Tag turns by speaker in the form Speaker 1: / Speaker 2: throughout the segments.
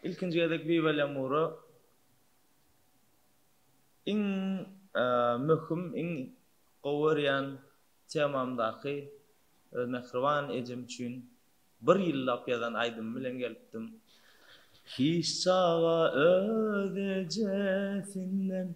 Speaker 1: Ilkinji gezek Viva Lemura iň möhüm, iň gowy görýän temamdaky öz mähriban ejem üçin bir ýyllap ýazan aýdymym bilen gelipdim. Hiç çaga öz ejesinden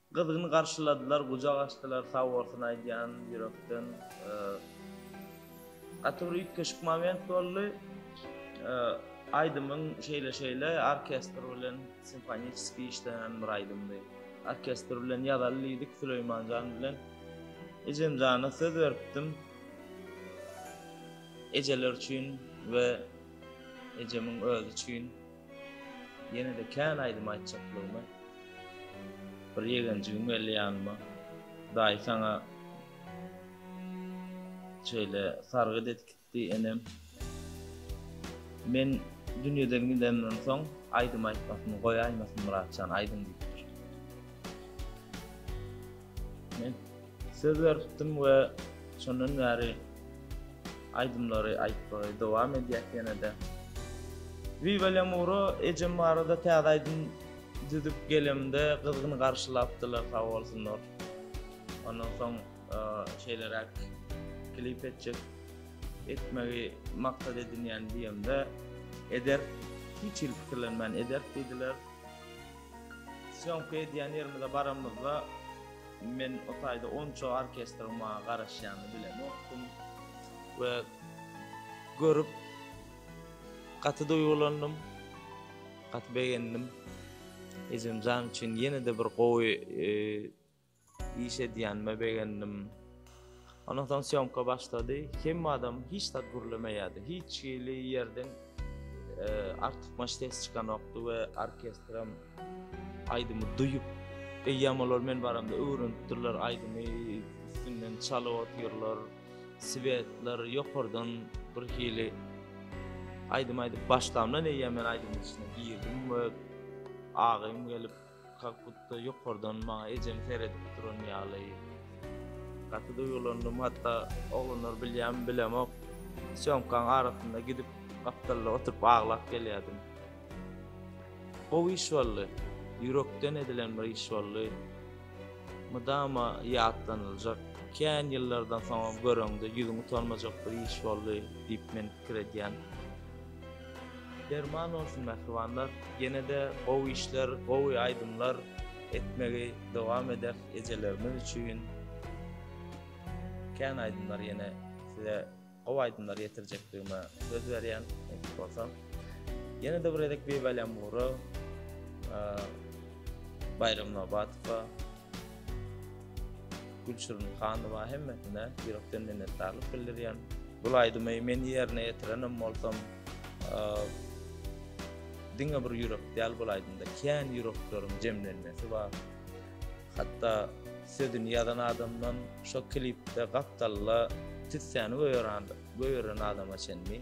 Speaker 1: Gyzgyn garşyladylar, gujak açdylar, sag bolsun aýdýan ýürekden. Gaty bir üýtgeşik moment boldy. Aýdymyň şeýle-şeýle orkestr bilen simfoniskiý işlenen bir aýdymdy. Orkestr bilen ýazaly diýdik Süleýmanjan bilen. Ejemjana söz beripdim. Ejeler üçin we ejemiň özi üçin. Ýene-de kän aýdym aýtjaklygymy Bir ýegenjigim geldi ýanyma, Daýy saňa şeýle sargyt edip gitdi enem. Men dünýeden gidemden soň aýdym aýtmasyny goýaýmasyn Myratjan aýdym diýipdir. Men söz beripdim we şondan bäri aýdymlary aýtmagy dowam edýäs ýene-de. Viva Lemuro ejem barada täze aýdym düzüp gelemde gyzgyn garşylapdylar sag bolsunlar. Ondan soň şeýleräk klip etjek etmegi maksat edinýän diýemde ederis hiç hili pikirlenmän ederis diýdiler. Sýomka edýän ýerimize baranymyzda, men o taýda onça orkestriň maňa garaşýanyny bilemokdym we görüp gaty duýgulandym, gaty begendim. Ejem jan üçin ýene-de bir gowy Iş edýänime begendim. Ondan soň syomka başlady. Hemme adam hiç zat gürlemeýärdi. Hiç hili ýerden artykmaç ses çykanokdy we orkestram aýdymy duýup, eýýäm olar men baramda öwrenipdirler aýdymy, üstünden çalyp otyrlar. Svetler ýokardan bir hili aýdym aýdyp başlamdan eýýäm men aýdymyň içine girdim we agym gelip Kak butda ýokardan maňa ejem seredip duran ýaly. Gaty duýgulandym, hatda oglanlar bilýärmi bilemok, sýomkaň arasynda gidip gapdalda oturyp aglap gelýärdim. Gowy iş boldy, ýürekden edilen bir iş boldy. Mydama ýatlanyljak, kän ýyllardan soňam göreňde ýüzüň utalmajak bir iş boldy diýip men pikir edýän. Derman bolsun mähribanlar ýenede gowy işler gowy aýdymlar etmegi dowam eder ejelerimiz üçin kän aýdymlar ýene size gowy aýdymlar ýetirjekdigime söz berýän nesip bolsa ýenede bir gezek Bibi Alýamura Baýram Nobatowa Gülçirin Hanowa hemmesine ýürekden minnetdarlyk bildirýän. Bu aýdymy men ýerine ýetirenem bolsam, diňe bir ýürek däl bu aýdymda kän ýürekleriň jemlenmesi bar. Hatda sözüni ýazan adamdan şo klipde gapdalla tüssäni göýeren adama çenli.